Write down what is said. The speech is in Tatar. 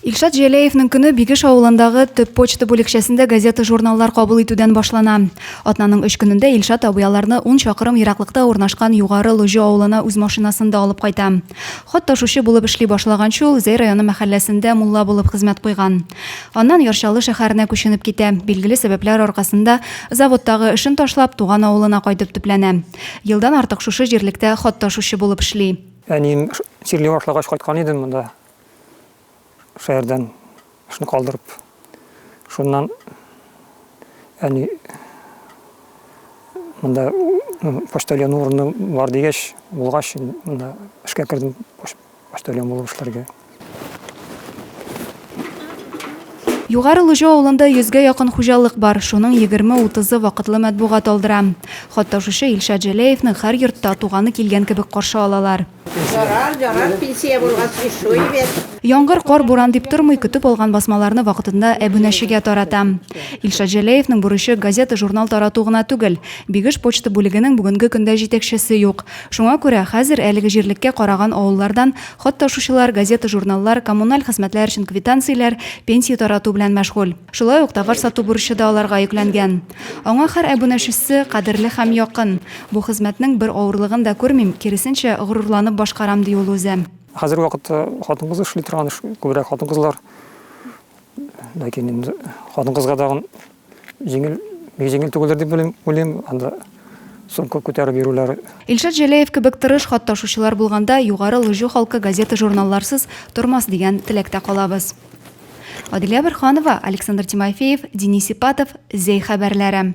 Илшат Җәләевнең көне Бигеш авылындагы төп почта бүлекчәсендә газета-журналлар кабул итүдән башлана. Атнаның өч көнендә Илшат абый аларны ун чакрым ераклыкта урнашкан Югары Лоҗо авылына үз машинасында алып кайта. Хат ташучы булып эшли башлаганчы ул Зәй районы мәхәлләсендә мулла булып хезмәт куйган. Аннан Яр Чаллы шәһәренә күченеп китә, билгеле сәбәпләр аркасында заводтагы эшен ташлап, туган авылына кайтып төпләнә. Елдан артык шушы җирлектә хат ташучы булып эшли. Әнием чирли башлагач кайткан идем монда. Шәһәрдән шуны калдырып. Шуннан әни монда почтальон урыны бар дигәч, булгач, монда эшкә кердем почтальон булып эшләргә. Югары Лужо авылында йөзгә якын хуҗалык бар, шуның егерме утызы вакытлы матбугат алдыра. Хат ташучы Илшат Җәләевны һәр йортта туганы килгән кебек каршы алалар. Ярар, ярар, пенсия булгач, ишуй бит. Яңгыр, кар, буран дип тормый, көтеп алган басмаларны вакытында әбүнәчегә тарата. Илшат Җәләевның бурычы газета-журнал тарату гына түгел. Бигеш почта бүлегенең бүгенге көндә җитәкчесе юк. Шуңа күрә хәзер әлеге җирлеккә караган авыллардан Хат ташучылар, газета-журналлар, коммуналь хезмәтләр өчен квитанцияләр, пенсия тарату белән мәшгуль. Шулай ук товар сату бурычы да аларга йөкләнгән. Аңа һәр әбүнәчесе кадерле һәм якын. Бу хезмәтнең бер авырлыгын да күрмим, киресенчә, горурланып башкарам, ди ул үзе. Хәзерге вакытта хатын-кыз эшли торган эш, күбрәк хатын-кызлар. Ләкин инде хатын-кызга тагын Җиңел, бик җиңел түгелдер дип уйлыйм, уйлыйм, анда сумка күтәреп йөрүләр. Илшат Җәләев кебек тырыш хат ташучылар булганда югары лыҗу халкы газета-журналларсыз тормас дигән теләктә калабыз. Аделя Борһанова, Александр Тимофеев, Денис Ипатов, Зәй хәбәрләре.